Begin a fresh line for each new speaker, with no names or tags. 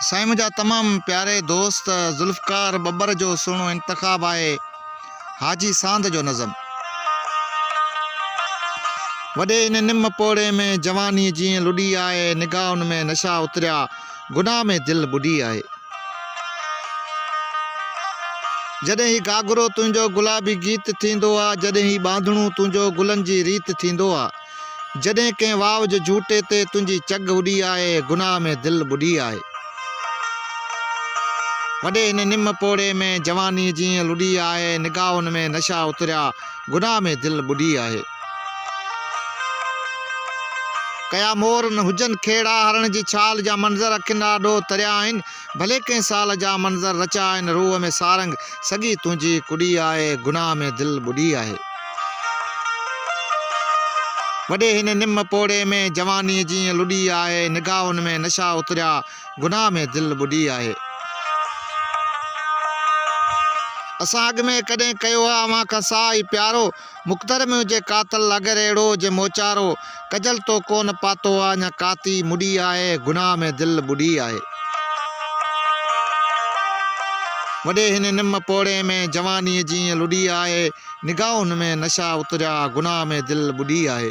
سائين منهنجا تمام پياري دوست ذوالفقار ٻٻر جو سهڻو انتخاب آهي حاجي ساند جو نظم وڏي ان نم پوڙهي ۾ جواني جيئن لڏي آهي نگاهن ۾ نشا اتريا گناهه ۾ دل ٻڏي آهي جڏهن هي گاگرو تنهنجو گلابي گيت ٿيندو آهي جڏهن هي ٻانڌڻو تنهنجو گلن جي ريت ٿيندو آهي جڏهن ڪنهن واء جي جهوٽي تي تنهنجي چگهه اڏي آهي گناهه ۾ دل ٻڏي آهي وڏي هن نم پوڙهي ۾ جواني جيئن لڏي آهي نگاهن ۾ نشا اتريا گناهه ۾ دل ٻڏي آهي ڪيا مور نه هجن کيڙا هرڻ جي ڇال جا منظر اکين آڏو تريا آهن ڀلي ڪنهن سال جا منظر رچا آهن روح ۾ سارنگ سڳي تنهنجي ڪڏي آهي گناهه ۾ دل ٻڏي آهي وڏي هن نم پوڙهي ۾ جواني جيئن لڏي آهي نگاهن ۾ نشا اتريا گناهه ۾ دل ٻڏي آهي اسان اڳ ۾ ڪڏهن ڪيو آ اوهان کان ساهه اي پيارو مقدر ۾ هجي قاتل اگر اهڙو جي موچارو ڪجل تو ڪون پاتو آ اڃا ڪاتي مڏي آهي گناهه ۾ دل ٻڏي آهي. وڏي هن نم پوڙهي ۾ جوانيء جيئن لڏي آهي نگاهن ۾ نشا اتريا گناهه ۾ دل ٻڏي آهي.